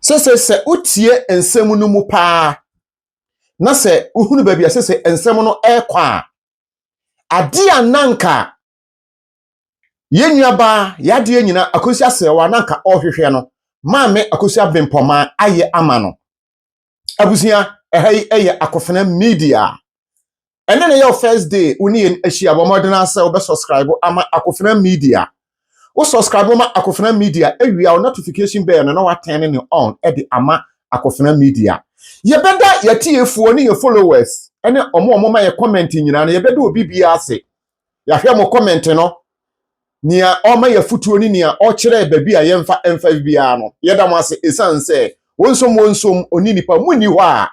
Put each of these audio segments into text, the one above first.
Sese sɛ wotie nsɛm no mu paa na sɛ wohunu baabi a sese nsɛm no rekɔ a, ade a nanka yɛn nuabaa yadeɛ nyina akosi asɛwa nanka ɔrehwehwɛ no maame akosi abempɔma ayɛ ama no. Abusua, ɛha yi yɛ akofena media. ɛne ne yɛ wo first day wo ne yɛn ahyia bɔ mmɔden ara sɛ wobɛ subscribe ama akofena media wo subscribe ma akofena media awia wo notification bell no na watɛn ne on de ama akofena media yɛbɛda yɛtiefoɔ ne yɛ followers ɛne ɔmo ɔmo ma yɛ comment nyinaa no yɛbɛda obi biara ase yɛahwɛ mo comment no nea ɔma yɛ afotuo ne nea ɔkyerɛ baabi a yɛmfa mfa biara no yɛda mo ase ɛsiane sɛ wɔnsom wɔnsom ɔni nipa mu nni hɔ a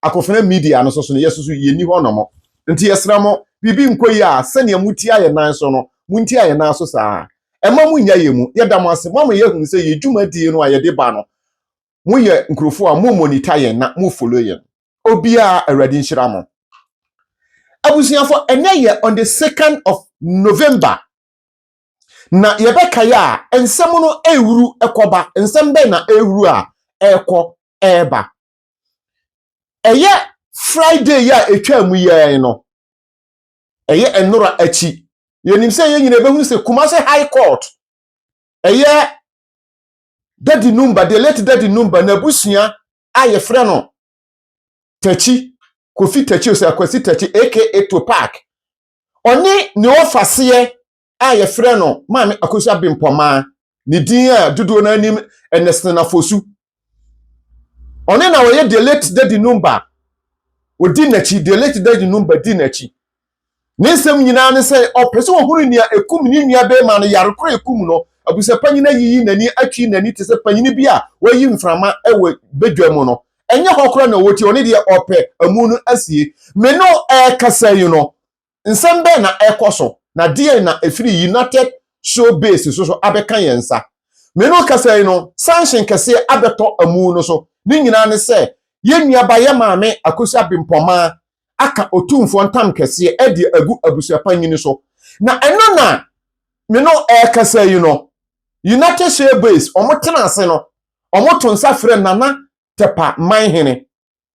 akofena media no so so no, yɛsusu yenni hɔ nnɔmɔ. Nti yɛsrɛ mo, biribi nkɔ yie a, sɛnea motia yɛn nan so no, montia yɛn nan so saa ara. Mma monnya yɛn mu. Yɛda mo ase. Moama yɛahunu sɛ yɛn dwumadie no a yɛde ba no, moyɛ nkurɔfoɔ a mo monitor yɛn na mo follow yɛn. Obiara, Awurade nhyira mo. Abusuafoɔ, ɛnnɛ yɛ on the second of November, na yɛbɛkae a, nsɛm no rewuru kɔba. Nsɛm bɛn na ɛrewuru a ɛrekɔ reba? Ɛyɛ Friday yi a ɛtwaa mu yɛn no, ɛyɛ nnora akyi. Yɛnim sɛ yɛn nyina ɛbɛhunu sɛ Kumase High Court, ɛyɛ Dadi Numba, the late Dadi Numba, n'abusua a yɛfrɛ no Takyi, Kofi Takyi Osei Akwasi Takyi aka Topac, ɔne ne ɔfaseɛ a yɛfrɛ no Maame Akosua Abempɔmaa, ne din a dodoɔ no anim Ernest Nafosu. Ɔne na ɔyɛ the late Daddy Numba, ɔdi n'akyi, the late Daddy Numba di n'akyi. Ne nsɛm nyinaa ne sɛ ɔpɛ sɛ ɔhunu nea ɛkum ne nua bɛrima no yare koro a ɛkum no. Abusuapanyin ayiyi n'ani atwi n'ani te sɛ panyin bi a wayi mframa wɔ badwa mu no. Ɛnyɛ hɔ koraa na ɔwɔ ti, ɔne deɛ ɔpɛ amu no asie. Me no ɛrekasa yi no, Nsɛm bɛn na ɛrekɔ so, na deɛn na ɛfiri United Show Base nso so abɛka yɛn nsa? Me no kasa yi no, sanhyen kɛseɛ abɛtɔ amu no so. Ne nyinaa ne sɛ, yɛn nuaba yɛn maame Akosua Abenpɔmaa aka Otumfoɔ ntam kɛseɛ ɛde agu abusuapanyini so. Na ɛno na me no ɛrekasa yi no, United Show Base wɔn tena ase no, wɔn to nsa frɛ Nana Tepa Manhene.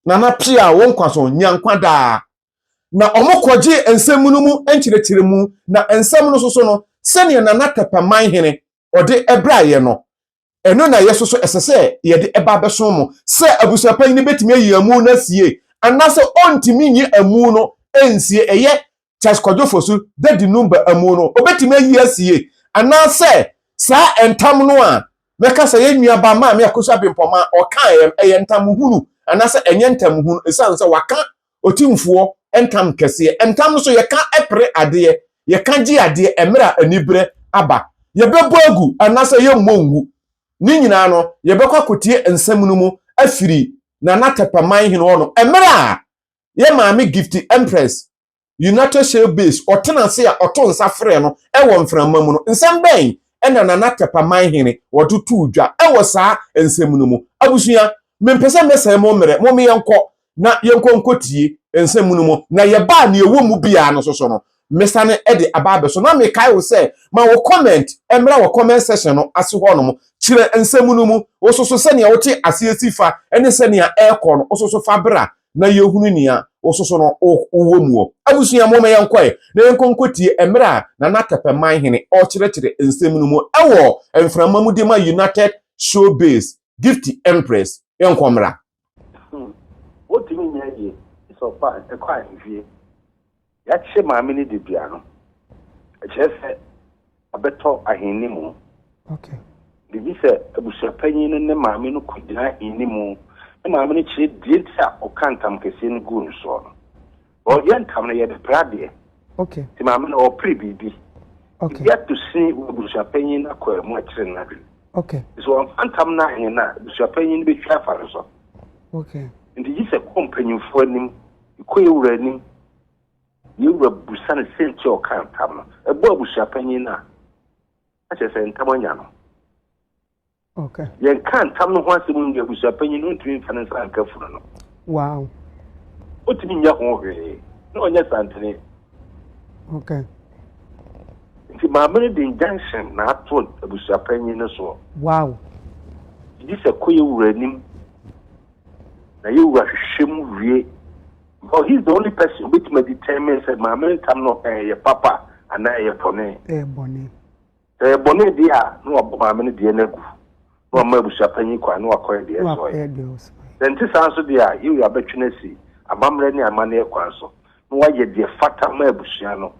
Nana Pia wo nkwa so, nya nkwa daa. Na wɔkɔgyee nsɛm no mu nkyerɛkyerɛmu, na nsɛm no nso so no, sɛdeɛ Nana Tɛpɛman Hene ɔde braaeɛ no, ɛno na yɛ nso so ɛsɛ sɛ yɛde ba abɛso mo, sɛ abusuapanyin no bɛtumi ayi amu no asie, anaasɛ ɔntumi nyi amu no nsie, ɛyɛ Charles Kwadwo Fosu Dadi Numba amu no, obetumi ayi asie, anaasɛ saa ntam no a mɛka sɛ yɛn nuabaa Maame Akosua Bempɔmaa ɔkaeɛ no, ɛyɛ ntam hunu anaasɛ ɛnyɛ ntam hunu, ɛsiane sɛ waka Otumfoɔ ntam kɛseɛ. Ntam nso, yɛka pere adeɛ, yɛka gye adeɛ mmerɛ a aniberɛ aba. Yɛbɛbɔ agu anaasɛ yɛmmɔ ngu, ne nyinaa no, yɛbɛkɔ akɔtie nsɛm no mu afiri Nana Tɛpɛman Hene hɔ no mmerɛ a yɛ maame Gifty Empress, United Shale Base, ɔtena ase a ɔto nsa frɛ no wɔ mframa mu no, nsɛm bɛn na Nana Tɛpa Manhene wɔde too dwa wɔ saa nsɛm no mu? Abusua, mempɛ sɛ mɛsɛe mo mmerɛ, momma yɛnkɔ na yɛnkɔ nkɔtie nsɛm no mu, na yɛba a nea ɛwɔ mu biara no nso so no, mesane de aba abɛso na mekae wo sɛ ma wo comment mmra wɔ comment section no ase hɔ nom kyerɛ nsɛm no mu wo soso sɛnea wote aseɛ si fa ne sɛnea ɛrekɔ no wo soso fa bra na yɛhunu nea wo soso no wowɔ mu wɔ abusua mo ma yɛnkɔe na yɛnkɔ nkɔtie mmerɛ a Nana Tɛpɛman hene ɔrekyerɛkyerɛ nsɛm no mu ɛwɔ mframa mu de ma United Showbiz Gifty Empress yɛnkɔ mmra Hmm. Wontumi nyɛ hwee. Sɛ ɔkɔ a, ɛkɔ ahwehwie. Yɛakye maame no dedua no, ɛkyerɛ sɛ abɛtɔ ahenni mu. Okay. Biribi sɛ abusuapanyin no ne maame no kogyina ahenni mu, ne maame no kyerɛ deɛ nti a ɔka ntam kɛseɛ no guu no soɔ no. Ɔ yɛ ntam no yɛ de pere adeɛ. Ok. Nti maame no ɔ pere biribi. Ok. Biribi ato sin wɔ abusuapanyin no akwaa mu akyere no adwene. Ok. Nti sɛ ɔmfa ntam no anyɛ no a, abusuapanyin no bɛtwa afa no so. Ok. Nti gye sɛ kɔ mpanyimfoɔ anim, kɔ yɛ wura anim, yɛ wura busa no sɛnti a ɔkaa ntam no. Ɛbɔ abusuapanyin no a, na kyerɛ sɛ ntam anya no. Okay. Yɛnka ntam no ho asɛm mu no, abusua panyin no ntumi mfa ne nsa nka funu no. Wow. Otumi nyɛ ho hwee na ɔnyɛ santene. Okay. Nti maame no de injunction na ato abusua panyin no soɔ. Wow. Gye sɛ kɔ yɛ wura anim na yɛ wura hwehwɛ mu wie. Because he is the only person obetumi determine sɛ maame no ntam no ɛyɛ papa anaa ɛyɛ bɔne. Ɛyɛ bɔne. Sɛ ɛyɛ bɔne deɛ a, na wabɔ maame no deɛ no agu, na wama abusua panyin kwan na wakɔyɛ deɛ ɛsɛ ɔyɛ. Sɛ ɛnte saa nso deɛ a, Yehu abɛtwe no asi amammerɛ ne amanneɛ kwan so, na wayɛ deɛ ɛfata ma abusua no,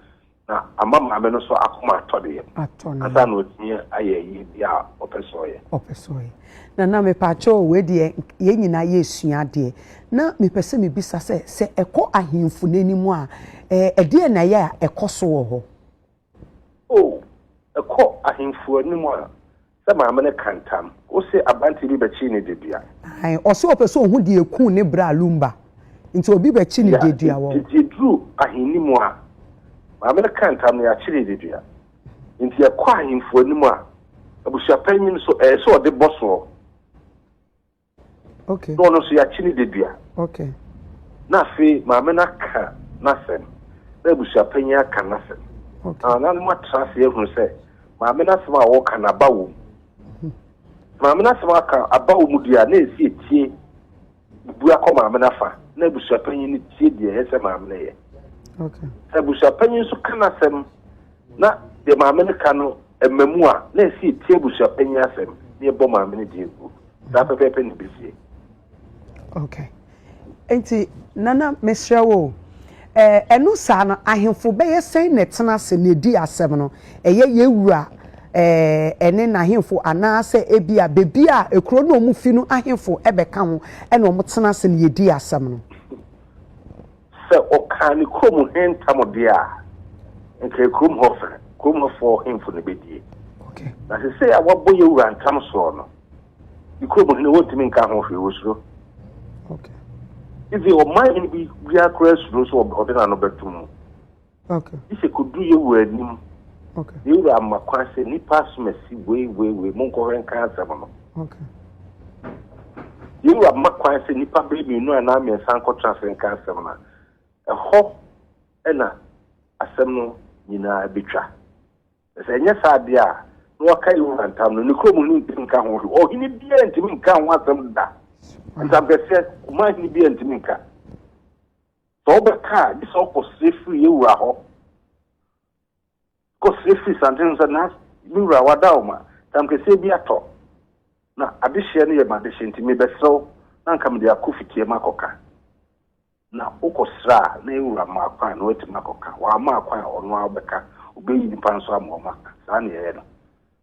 na ama maame no nso akoma atɔ ne yam, ansa na watumi ayɛ deɛ a ɔpɛ sɛ ɔyɛ. Ɔpɛ sɛ ɔyɛ. Nana, mepakyɛw o, wei deɛ yɛn nyinaa yɛresua adeɛ. Na mepɛ sɛ mebisa sɛ, sɛ ɛkɔ ahemfo no anim a, ɛdeɛn na ɛyɛ a ɛkɔ so wɔ hɔ? O, ɛkɔ ahemfo anim a, sɛ maame no ka ntam, wose aberanteɛ bi bɛkyee ne dedua. Ae, ɔse ɔpɛ sɛ ɔhu deɛ ɛkuu ne bra Lumba, nti obi bɛkye ne dedua wɔ. Nti ɛduru ahenni mu a, maame no ka ntam na yɛakye ne dedua. Nti ɛkɔ ahemfo anim a, abusuapanyin nso, ɛyɛ sɛ ɔde bɔ soɔ. Okay. Na ɔno nso yɛakye ne dadua. Okay. Na afei maame no aka n'asɛm na abusuapanyin aka n'asɛm. Okay. Na nanom atra ase ahunu sɛ maame n'asɛm a wɔka no aba wɔ mu. Hmm. Maame n'asɛm aka aba wɔ mu deɛ a na esi etie bu akɔ maame n'afa na abusuapanyin no tie deɛ ɛyɛ sɛ maame no yɛ. Okay. Sɛ abusuapanyin nso ka n'asɛm na deɛ maame no ka no ɛma mu a na esi etie abusuapanyin asɛm na ɛbɔ maame no deɛ gu. saa pɛpɛɛpɛ na ɛbɛsie. Okay. Nti, Nana, mesrɛ wo o, ɛɛ, ɛno saa no, ahemfo bɛyɛ sɛn na ɛtena ase na ɛdi asɛm no? Ɛyɛ yɛn wura ɛɛ, ɛne n'ahemfo anaasɛ ebia baabi a ekuro no a wɔfi no ahemfo bɛka ho na wɔtena ase na yɛdi asɛm no? Sɛ ɔkaa ne kurom he ntam deɛ a, nka kurom hɔ fɛ, kurom hɔfoɔ hemfo na bedie. Na seesei a wabɔ yɛ wura ntam soɔ no, ne kurom hene wɔntumi nka ho hwee, wɔsuro. Even ɔman hene bi biara koraa suro sɛ ɔde n'ano bɛtom mu. Gye sɛ kɔduru yɛ wura anim. Yɛ wura ama kwan sɛ nnipa asomasi wei wei wei monkɔhwɛ nka asɛm no. Yɛ wura ma kwan sɛ nnipa bɛyɛ mmienu anaa mmiɛnsa nkɔtra ase nka asɛm no a, ɛhɔ na asɛm no nyinaa bɛtwa. Na sɛ ɛnyɛ saa deɛ a, na waka yɛ wura ntam no, ne kurom hene ntumi nka ho hwee. Ɔhene biara ntumi nka ho asɛm da. Ntamkɛseɛ, Kumah hene biara ntumi nka. Sɛ wobɛka a, gye sɛ wokɔsrɛ firi yɛn wura hɔ. Kɔsrɛ firi santen no sɛ, Na me wura, wada wo ma, tam kɛseɛ bi atɔ, na adehyeɛ no yɛ m'adehyeɛ nti, mebɛsrɛ wo na anka mede akɔ fitiɛ makɔka. Na wokɔsrɛ a, na yɛn wura ma kwan na watumi akɔka. Wamma kwan a, ɔno ara bɛka. Ɔbɛyi nnipa nso ama wɔaka. Saa na yɛyɛ no.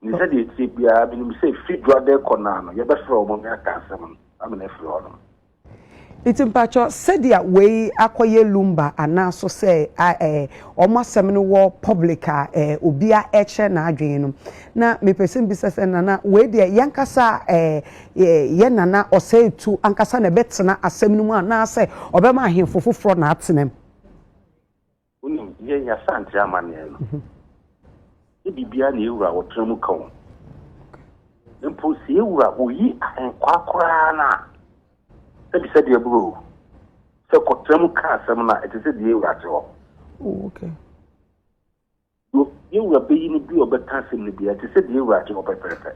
Ne sɛdeɛ ɛteɛ biara, menim sɛ fi dwoadɛ kɔ naa no, yɛbɛfrɛ wɔn ne aka asɛm no ama no afiri hɔ nom. Nti mpakyɛ sɛdeɛ wei akɔyɛ lumba anaa so sɛ eh, wɔn asɛm no wɔ public a eh, obia ɛkyerɛ n'adwene no, na mepɛ sɛ mbisa sɛ nana wei deɛ yɛnkasa eh, eh, yɛ nana ɔsɛe tu ankasa na ɛbɛtena asɛm no mu anaasɛ ɔbɛma ahemfo foforɔ na atenam? Wonim, yɛn Y'Asante amanneɛ no, nyɛ biribiara na yɛwura ɔtra mu ka o. Mpo sɛ yɛwura oyi ahenkwaa koraa no a, sɛ bisa deɛ buro o, sɛ kɔtra mu ka asɛm no a, ɛte sɛ deɛ yɛwura te hɔ. Oh, okay. Yo, Yewura beyi no bi a ɔbɛka asɛm no biara, te sɛ deɛ Ewurade wɔ pɛprɛpɛ.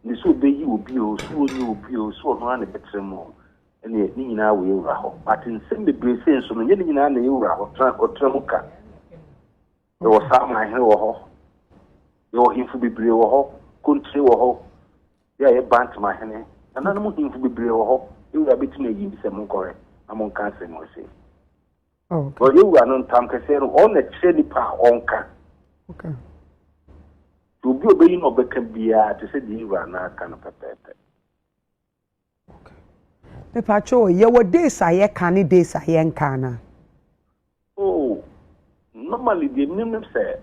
Nde sɛ obeyi obi oo, sɛ onyi obi oo, sɛ ɔno ara na ɛbɛtra mu oo, ɛneɛ ne nyinaa wɔ Yewura hɔ. But nsɛm bebree sei nso no, nyɛ ne nyinaa na Yewura ɔtra, ɔtra mu ka. Yɛwɔ saa amanhene wɔ hɔ, yɛwɔ hemfo bebree wɔ hɔ, Kontire wɔ hɔ, yɛ a yɛ Bant mahene, nananom hemfo bebree wɔ hɔ, Yewura betumi ayi bi sɛ monkɔhwɛ na monka asɛm wɔ sei. Ɔnyɛ wura no ntam kɛseɛ no, ɔno na ɛkyerɛ nipa a ɔnka. Nti obi a ɔbɛyi na ɔbɛka biara te sɛ deɛ wura no aka no pɛpɛɛpɛ. Mepatwo, yɛwɔ days a yɛka ne days a yɛnka no a? Oh, normally deɛ menim ne sɛ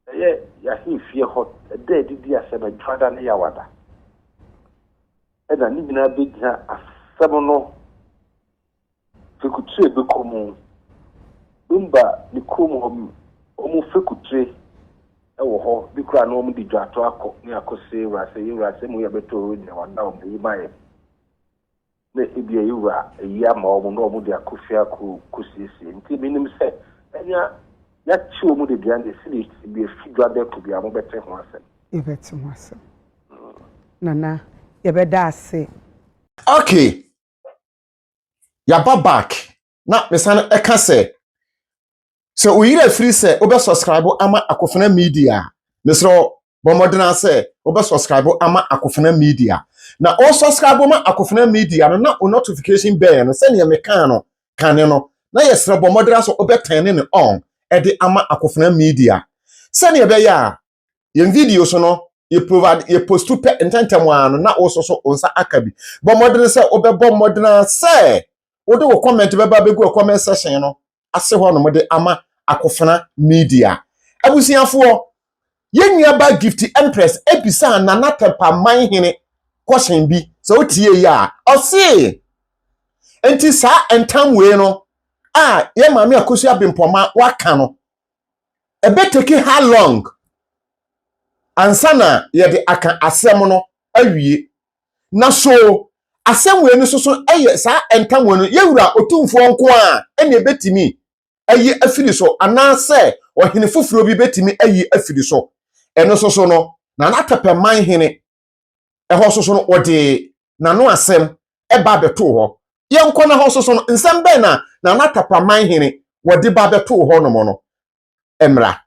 ɛyɛ yɛahemfie hɔ ɛda adidi asɛm adwada ne yɛawada ɛna ne nyinaa bɛgyina asɛm no Fekutire bɛkɔ mu. Bumba ne kurom hɔ wɔn fekutire wɔ hɔ bi koraa na wɔde dwato akɔ ne akɔsɛ ewurasɛ yɛ ewurasɛ mu yɛ bɛtɔ ɔwɔ nyina wɔn da wɔn ayi ma yɛ na ebi a ewura ayi ama wɔn na wɔn de akɔ fie akɔ kɔsiesie nti menim sɛ ɛnya yɛakye wɔn de duane esi ne esi bi efi dwa dɛ ko bi a wɔn bɛte ho asɛm. Yɛbɛte ho asɛm nana yɛbɛda ase. Okay yɛaba back na mesan ɛka sɛ sɛ oyere afiri sɛ wobɛ subscribe ama akofena media a mesrɛ bɔmmɔdena sɛ wobɛ subscribe ama akofena media na o subscribe ma akofena media no na o notification bell no sɛdeɛ mekaa no kane no na yɛsrɛ bɔmmɔdena sɛ wobɛtɛne ne on ɛde ama akofena media sɛdeɛ ɛbɛyɛ a yɛn videos no yɛ provide yɛ postu pɛ ntɛntɛm ara no na wɔsɔ so wɔn nsa aka bi bɔ mmɔden sɛ wɔbɛbɔ mmɔden sɛ wɔde wɔ comment bɛba abɛgu wɔ comment section no ase hɔ nom de ama akofena media abusuafoɔ yɛn nua ba gift empress ebisa nana tɛmpaman hene question bi sɛ wotie yi a ɔse nti saa ntam wei no a yɛ maame akosi abempɔma waka no ɛbɛteki how long ansa na yɛde aka asɛm no awie? Na so asɛm wei no nso so yɛ saa ɛntamu no yɛ Wura Otumfoɔ nko ara na ɛbɛtumi ayi afiri so anaasɛ ɔhene foforɔ bi bɛtumi ayi afiri so? Ɛno nso so no, Nana Tɛpɛman Hene Ɛhɔ nso so no, wɔde n'ano asɛm ba bɛtoo hɔ. Yɛnkɔ na hɔ nso so no, nsɛm bɛn na Nana Tapaman hene wɔde ba bɛtoo hɔnom no mmra.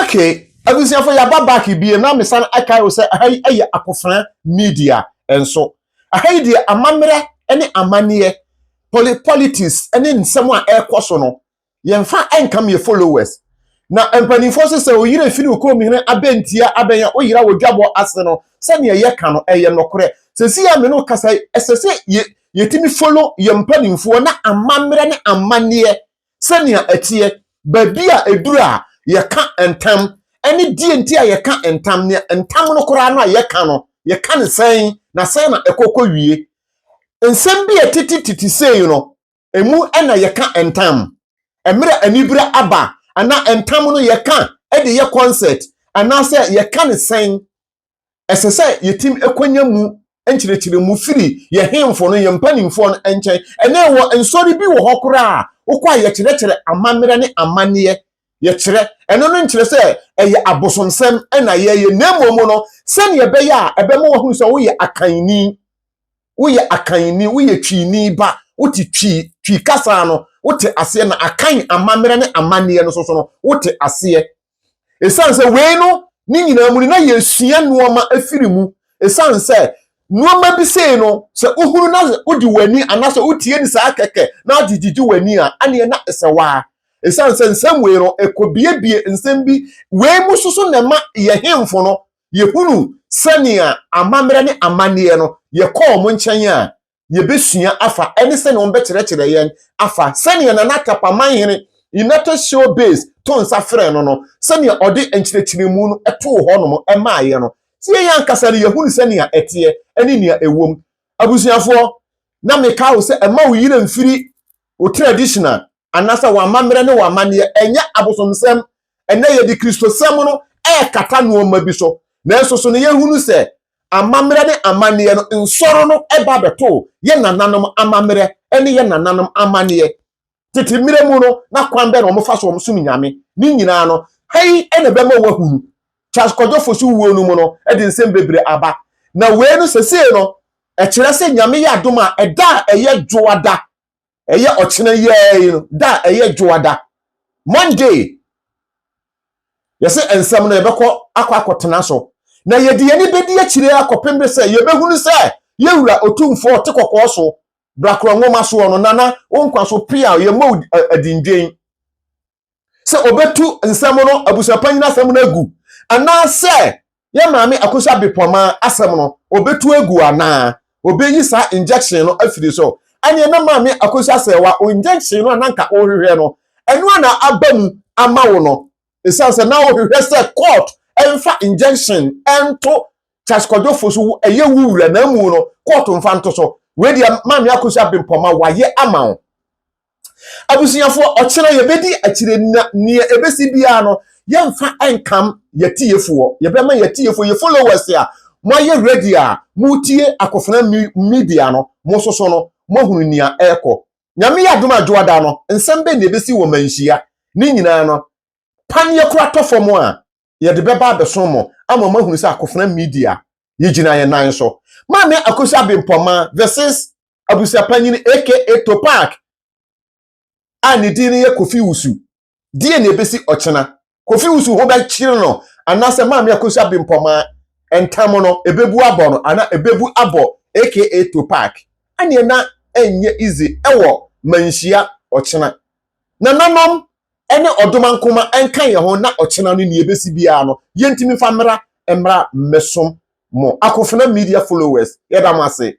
okay abusuafo yaba back bie na mesan akae wo sɛ aha yi ɛyɛ akofena media nso aha yi deɛ amammerɛ ne amanneɛ politics ne nsɛm a ɛrekɔ so no yɛmfa ɛnkam yɛ followers na mpanimfoɔ so sɛ oyere firi wo kurom hene abɛntia abɛnya oyera wɔ dwabɔ ase no sɛdeɛ yɛka no ɛyɛ nokorɛ sɛsi a me no kasa ɛsɛ sɛ yɛ yɛtumi follow yɛn mpanimfoɔ na amammerɛ ne amanneɛ sɛnea ɛteɛ, baabi a eduru a yɛka ntam, ne deɛ nti a yɛka ntam, nea ntam no koraa no a yɛka no, yɛka no sɛn, na sɛn na ɛkɔ kɔwie. Nsɛm bi a ɛtete tete sei no, emu na yɛka ntam. Mmerɛ a anibere aba anaa ntam no yɛka de yɛ kɔnsɛt anaasɛ yɛka no sɛn ɛsɛ sɛ yɛtim kwanya mu nkyerɛkyerɛ mu firi yɛ hemfo no, yɛ mpanimfoɔ no nkyɛn. Ɛnɛ wɔ nsɔre bi wɔ hɔ koraa a, wokɔ a yɛkyerɛkyerɛ amammerɛ ne amanneɛ, yɛkyerɛ. Ɛno no nkyerɛ sɛ ɛyɛ abosomsɛm na yɛyɛ, na mmom no, sɛdeɛ ɛbɛyɛ a ɛbɛma wɔahunu sɛ woyɛ akanni, woyɛ akanni, woyɛ twini ba, wote twi, twi kasa no, wote aseɛ na akan amammerɛ ne amanneɛ no soso no, wote aseɛ. Ɛsiane sɛ wei no ne nyinaa mu no na yɛsua nnoɔma afiri mu ɛsiane sɛ nnoɔma bi sei no sɛ wohunu na wode w'ani anaasɛ wotie ne saa kɛkɛ na agye gyegye w'ani a aneɛ na ɛsɛ waa ɛsiane sɛ nsɛm wei no ɛkɔbiebie nsɛm bi wei mu soso na ɛma yɛ hemfo no yɛhunu sɛnea amammerɛ ne amanneɛ no yɛkɔɔ mo nkyɛn a yɛbɛsua afa ɛne sɛnea wɔbɛkyerɛkyerɛ yɛn afa sɛnea Nana Kapaman hene United Shore Base to nsa frɛ no no, sɛnea ɔde nkyerɛkyerɛmu no too hɔ nom maaeɛ no. Sɛ yɛn ankasa no yɛhunu sɛnea ɛteɛ ɛne nea ɛwom. Abusuafoɔ, na meka wo sɛ ɛma wo yerɛ mfiri wo traditional anaasɛ wɔn amammerɛ ne wɔn amanneɛ, ɛnyɛ abosomsɛm. Ɛnnɛ yɛde Kristosɛm no rekata nnoɔma bi so, nanso so na yɛhunu sɛ amammerɛ ne amanneɛ no nsɔre no ba bɛtoo yɛn nananom amammerɛ ne yɛn nananom amanneɛ? Tete mmerɛ mu no, na kwan bɛn na wɔfa so wɔsom Nyame? Ne nyinaa no, hei na ɛbɛma woahunu. Charles Kwadwo Fosu wuo no mu no de nsɛm bebree aba, na wei no sesei no ɛkyerɛ sɛ Nyame yɛ adom a ɛda a ɛyɛ Dwoada ɛyɛ ɔkyena yi ara yi no da a ɛyɛ dwoada monday yɛsɛ nsɛm no yɛbɛkɔ akɔ akɔtena so na yɛde yɛne bɛdi akyire akɔpem de sɛ yɛbɛhunu sɛ yɛwura ɔtumfoɔ ɔte kɔkɔɔ so brakora nwoma soɔ no nana wo nkwa so pea yɛmmɔ adindwen sɛ ɔbɛtu nsɛm no abusuapanyin asɛm no agu anaasɛ yɛ maame akosua bepɔma asɛm no ɔbɛtu agu anaa ɔbɛyi saa injection no afiri so ɛneɛ na maame akosua sɛ wa injection no a nanka wohwehwɛ no ɛno a na aba mu ama wo no ɛsiane sɛ na wohwehwɛ sɛ court ɛmfa injection ɛnto Charles Kwadwofo so ɛyɛ wo wura na mu no court mfa nto so wei deɛ maame akosua bepɔma wayɛ ama wo Abusuafoɔ, ɔkyena yɛbɛdi akyire na neɛ ɛbɛsi biara no, yɛmfa nkam yɛtiefoɔ. Yɛbɛma yɛtiefoɔ, yɛ followers a moayɛ ready a motie Akofena Media no, mo nso so no, moahunu nea ɛrekɔ. Nyame yɛ adom a Dwoada no, nsɛm bɛn na ɛbɛsi wɔ Manhyia? Ne nyinaa no, paneɛ kora tɔ fam a, yɛde bɛba abɛsom mo ama moahunu sɛ akofena media yɛgyina yɛn nan so maame akosi abempɔma this is abusuapanyini aka topak a ne din no yɛ kofi wusu deɛ na ɛbɛsi ɔkyena kofi wusu ho bɛkyere no anaasɛ maame akosi abempɔma ntam no ɛbɛbu abɔ no ana ɛbɛbu abɔ aka topak ɛneɛ na ɛnyɛ easy ɛwɔ manhyia ɔkyena Nananom ne ɔdomankoma nka yɛn ho na ɔkyena no nea ebesi biara no yentumi mfa mmra mmra mmɛsom mo Akofena Media followers yɛda mo ase